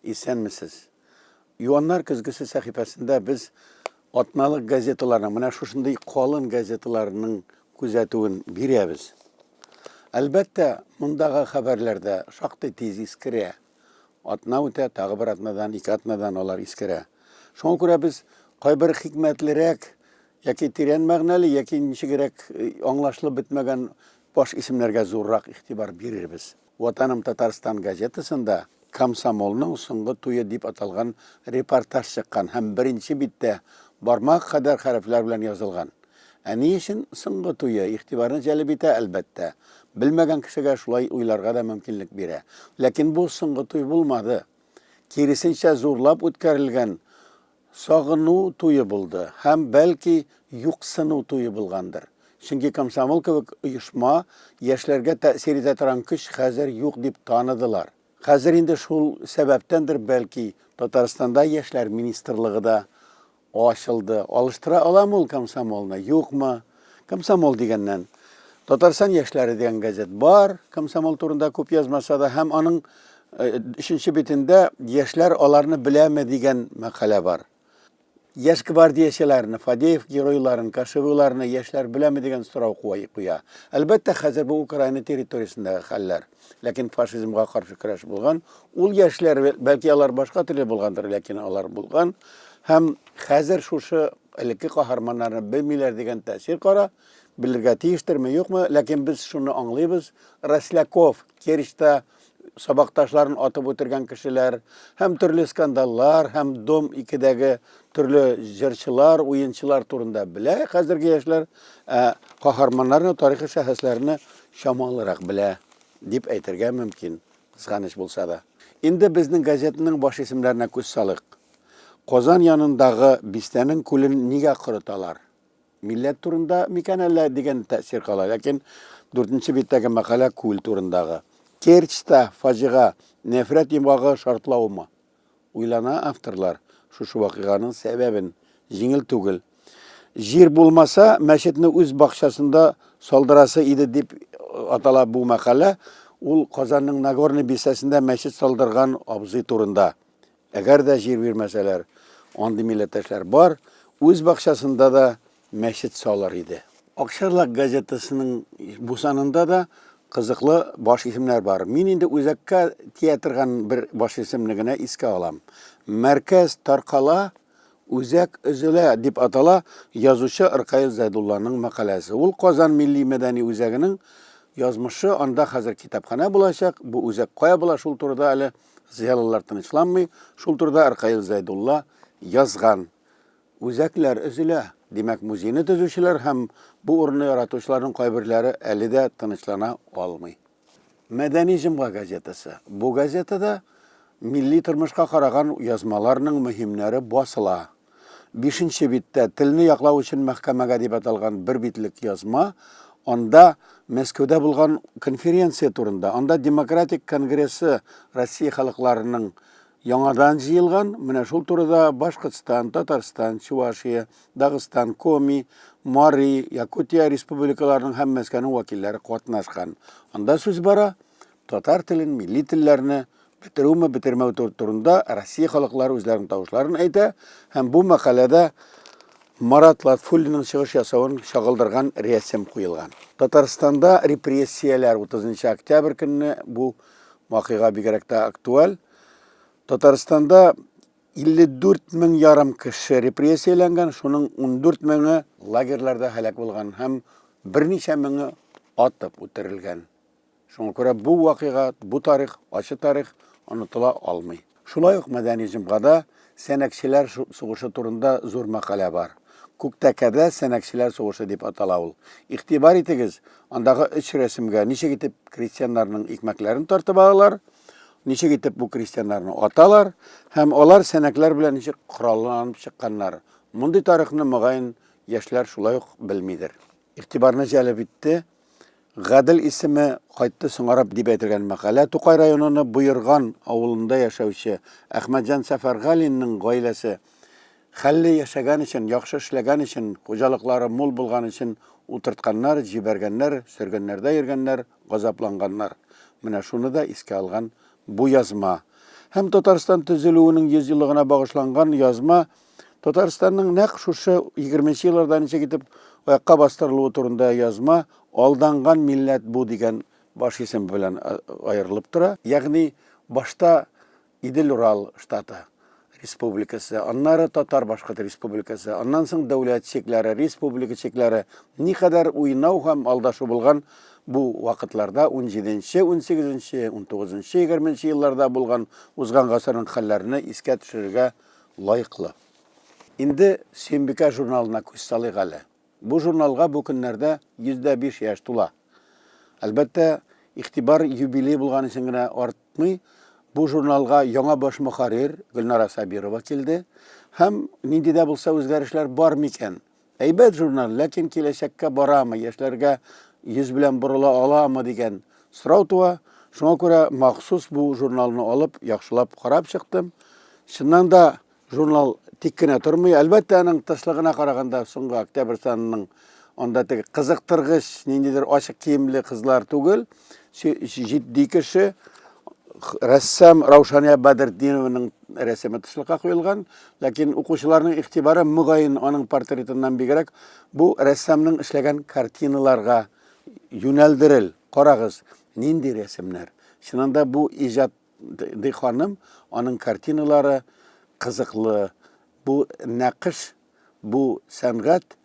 Исәнмесез! Юаннар көзгесе сәхифәсендә без атналык газеталарның, менә шушындый калын газеталарның күзәтүен бирәбез. Әлбәттә, мондагы хәбәрләр дә шактый тиз искерә. Атна үтә, тагы бер атнадан, ике атнадан алар искерә. Шуңа күрә без кайбер хикмәтлерәк яки тирән мәгънәле, яки ничегрәк э, аңлашылып бетмәгән баш исемнәргә зуррак игътибар бирербез. Ватаным Татарстан газетасында Комсомолның соңгы туе дип аталган репортаж чыккан һәм беренче биттә бармак кадәр хәрефләр белән язылган. Ә ни өчен соңгы туе? Игътибарны җәлеп итә, әлбәттә. Белмәгән кешегә шулай уйларга да мөмкинлек бирә. Ләкин бу соңгы туй булмады. Киресенчә, зурлап үткәрелгән Сагыну туе булды һәм, бәлки, юксыну туе булгандыр. Чөнки комсомол кебек оешма, яшьләргә тәэсир итә торган көч хәзер юк дип таныдылар. Хәзер инде шул сәбәптәндер, бәлки, Татарстанда Яшьләр министрлыгы да ачылды. Алыштыра аламы ул комсомолны, юкмы? Комсомол дигәннән, Татарстан яшьләре дигән газет бар, комсомол турында күп язмаса да, һәм аның өченче битендә яшьләр аларны беләме дигән мәкалә бар. Яшь гвардиячеләрне, Фадеев геройларын, Кашевыларны яшьләр беләме дигән сорау куя. Әлбәттә, хәзер бу Украина территориясендәге хәлләр. ләкин фашизмга каршы көрәш булган. Ул яшьләр, бәлки алар башка төрле булгандыр, ләкин алар булган. Һәм хәзер шушы элекке каһарманнарны белмиләр дигән тәэсир кара, белергә тиештерме, юкмы, ләкин без шуны аңлыйбыз. Росляков, Керчта сабакташларын атып үтергән кешеләр, һәм төрле скандаллар, һәм Дом 2-дәге төрле җырчылар, уенчылар турында белә хәзерге яшьләр, ә каһарманнарны, тарихи шәхесләрне чамалырак белә дип әйтергә мөмкин, кызганыч булса да. Инде безнең газетаның баш исемнәренә күз салыйк. Казан янындагы бистәнең күлен нигә корыталар? Милләт турында микән әллә дигән тәэсир кала, ләкин дүртенче биттәге мәкалә күл турындагы. Керчьта фаҗига, нәфрәт йомгагы шартлаумы? Уйлана авторлар шушы вакыйганың сәбәбен. Җиңел түгел. Җир булмаса, мәчетне үз бакчасында салдырасы иде дип атала бу мәкалә. Ул Казанның Нагорный бистәсендә мәчет салдырган абзый турында. Әгәр дә җир бирмәсәләр, андый милләттәшләр бар, үз бакчасында да мәчет салыр иде. Акчарлак газетасының бу санында да кызыклы баш исемнәр бар. Мин инде үзәккә тия торган бер баш исемне генә искә алам. Мәркәз таркала, үзәк өзелә дип атала язучы Ркаил Зәйдулланың мәкаләсе. Ул Казан милли-мәдәни үзәгенең язмышы, анда хәзер китапханә булачак, бу үзәк кая була, шул турыда әле зыялылар тынычланмый, шул турыда Ркаил Зәйдулла язган. Үзәкләр өзелә. Димәк, музейны төзүчеләр һәм бу урынны яратучыларның кайберләре әле дә тынычлана алмый. Мәдәни җомга газетасы. Бу газетада милли тормышка караган язмаларның мөһимнәре басыла. Бишенче биттә Телне яклау өчен мәхкәмәгә дип аталган бер битлек язма, анда Мәскәүдә булган конференция турында, анда Демократик конгрессы Россия халыкларының Яңадан җыелган, менә шул турыда Башкортстан, Татарстан, Чувашия, Дагыстан, Коми, Мари, Якутия республикаларының һәм Мәскәүнең вәкилләре катнашкан. Анда сүз бара татар телен, милли телләрне бетерүме, бетермәү турында Россия халыклары үзләренең тавышларын әйтә һәм бу мәкаләдә Марат Латфуллинның чыгыш ясавын чагылдырган рәсем куелган. Татарстанда репрессияләр 30 октябрь көнне бу вакыйга бигрәк тә актуаль. Татарстанда 54 мең ярым кеше репрессияләнгән, шуның 14 меңе лагерьларда һәлак булган һәм берничә меңе атып үтерелгән. Шуңа күрә бу вакыйга, бу тарих, ачы тарих онытыла алмый. Шулай ук мәдәни җомгада Сәнәкчеләр сугышы турында зур мәкалә бар. Күктәкәдә Сәнәкчеләр сугышы дип атала ул. Игътибар итегез, андагы өч рәсемгә ничек итеп крестьяннарның икмәкләрен тартып алалар, ничек итеп бу крестьяннарны аталар һәм алар сәнәкләр белән ничек коралланып чыкканнар. Мондый тарихны, мөгаен, яшьләр шулай ук белмидер. Игътибарны җәлеп итте Гадел исеме кайтты соңарып дип әйтелгән мәкалә Тукай районының Боерган авылында яшәүче Әхмәтҗан Сәфәргалинның гаиләсе хәлле яшәгән өчен, яхшы эшләгән өчен, хуҗалыклары мул булган өчен утыртканнар, җибәргәннәр, сөргеннәрдә йөргәннәр, газапланганнар. Менә шуны да искә алган бу язма. Һәм Татарстан төзелүенең 100 еллыгына багышланган язма Татарстанның нәкъ шушы 20 елларда ничек итеп аякка бастырылуы турында язма Алданган милләт бу дигән баш исем белән аерылып тора. Ягъни башта Идел-Урал штаты республикасы, аннары татар-башкорт республикасы, аннан соң дәүләт чикләре, республика чикләре никадәр уйнау һәм алдашу булган бу вакытларда 17-нче, 18-нче, 19-нчы, 20-нче елларда булган узган гасырның хәлләренә искә төшерергә лаеклы. Инде Сөембикә журналына күз салыйк әле. Бу журналга бу көннәрдә 105 яшь тула. Әлбәттә, игътибар юбилей булган өчен генә артмый, бу журналга яңа баш мөхәррир Гөлнара Сабирова килде һәм нинди дә булса үзгәрешләр бар микән, Әйбәт журнал, ләкин киләчәккә барамы, яшьләргә йөз белән борыла аламы дигән сорау туа. Шуңа күрә махсус бу журналны алып, яхшылап карап чыктым. Чыннан да журнал тик кенә тормый. Әлбәттә, аның тышлыгына караганда, соңгы октябрь санының анда теге кызыктыргыч, ниндидер ачык киемле кызлар түгел, җитди кеше, рәссам Раушания Бадретдинованың рәсеме тышлыкка куелган. Ләкин укучыларның игътибары, мөгаен, аның портретыннан бигрәк, бу рәссамның эшләгән картиналарга юнәлдерел. Карагыз, нинди рәсемнәр. Чынында бу иҗат ди ханым, аның картиналары кызыклы. Бу нәкыш, бу сәнгать,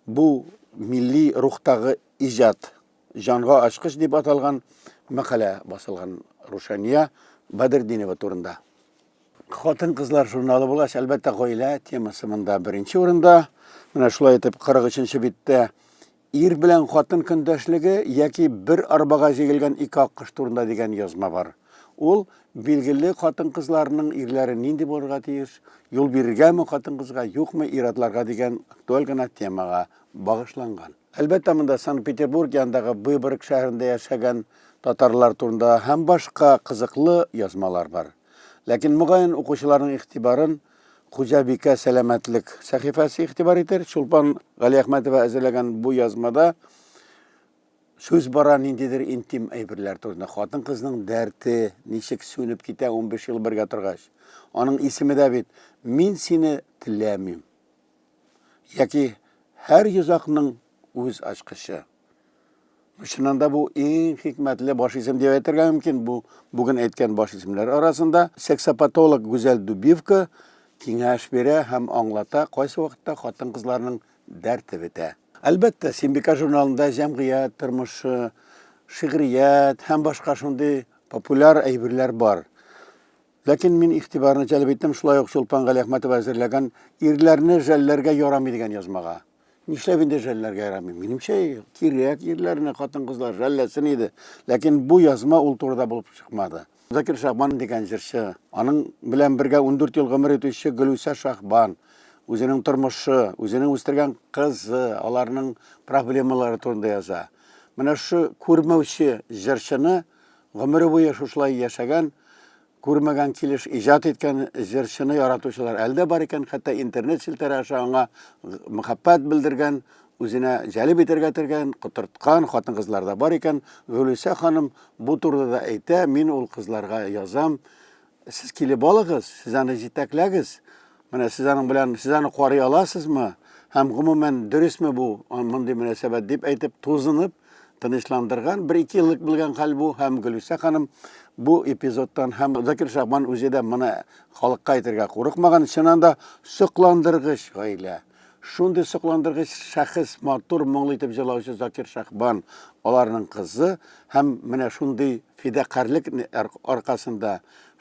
бу милли рухтагы иҗат. Җанга ачкыч дип аталган мәкалә басылган Рушания Бадердинева турында. Хатын-кызлар журналы булгач, әлбәттә, гаилә темасы монда беренче урында. Менә шулай итеп 43-нче биттә ир белән хатын көндәшлеге яки бер арбага җигелгән ике аккош турында дигән язма бар. Ул билгеле хатын-кызларның ирләре нинди булырга тиеш, юл бирергәме хатын-кызга, юкмы ир-атларга дигән актуаль гына темага багышланган. Әлбәттә, монда Санкт-Петербург янындагы Выборг шәһәрендә яшәгән татарлар турында һәм башка кызыклы язмалар бар. Ләкин, мөгаен, укучыларның игътибарын Хуҗабикә сәламәтлек сәхифәсе игътибар итер. Чулпан Галиәхмәтова әзерләгән бу язмада сүз бара ниндидер интим әйберләр турында. Хатын-кызның дәрте ничек сүнеп китә 15 ел бергә торгач. Аның исеме дә бит Мин сине теләмим. Яки һәр йозакның үз ачкычы. Чыннан да бу иң хикмәтле баш исем дип әйтергә мөмкин. Бу бүген әйткән баш исемнәр арасында сексопатолог Гүзәл Дубивка киңәш бирә һәм аңлата, кайсы вакытта хатын-кызларның дәрте бетә. Әлбәттә, Симбика журналында җәмгыять тормышы, шигърият һәм башка шундый популяр әйберләр бар. Ләкин мин игътибарны җәлеп иттем шулай ук Чулпан Галиәхмәтова әзерләгән Ирләрне жәлләргә ярамый дигән язмага. Нишләп инде жәлләргә ярамый? Минемчә, кирәк ирләрне хатын-кызлар жәлләсен иде. Ләкин бу язма ул турыда булып чыкмады. Закир Шахбан дигән җырчы, аның белән бергә 14 ел гомер итүче Гөлүсә Шахбан, үзенең тормышы, үзенең үстергән кызы, аларның проблемалары турында яза. Менә шу күрмәүче җырчыны Гомере буе шушылай яшәгән, күрмәгән килеш иҗат иткән җырчыны яратучылар әле дә бар икән, хәтта интернет челтәре аша аңа мәхәббәт белдергән, үзенә җәлеп итәргә тергән, котырткан хатын-кызлар да бар икән. Гөлүсә ханым бу турыда да әйтә, Мин ул кызларга язам, Сез килеп алыгыз, сез аны җитәкләгез. Менә сез аның белән, сез аны карый аласызмы? Һәм гомумән дөресме бу мондый мөнәсәбәт дип әйтеп, тузынып, тынычландырган, бер ике еллык булган хәл бу һәм Гөлүсә ханым бу эпизодтан һәм Закир Шахман үзе дә моны халыкка әйтергә курыкмаган, чыннан да сокландыргыч гаилә. Шундый сокландыргыч шәхес, матур, моңлы итеп җырлаучы Закир Шәхбан, аларның кызы һәм менә шундый фидакарьлек аркасында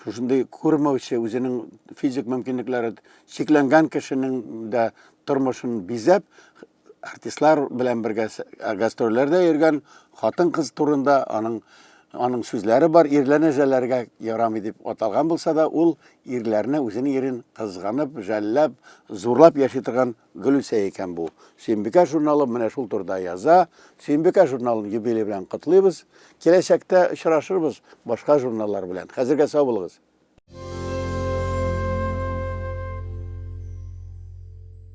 шушындый күрмәүче, үзенең физик мөмкинлекләре чикләнгән кешенең дә тормышын бизәп, артистлар белән бергә гастрольләрдә йөргән хатын-кыз турында аның Аның сүзләре бар, ирләрне жәлләргә ярамый дип аталган булса да, ул ирләрне үзенең ирен кызганып, жәлләп, зурлап яши торган Гөлүсә икән бу. Сөембикә журналы менә шул турыда яза. Сөембикә журналын юбилей белән котлыйбыз. Киләчәктә очрашырбыз башка журналлар белән. Хәзергә сау булыгыз.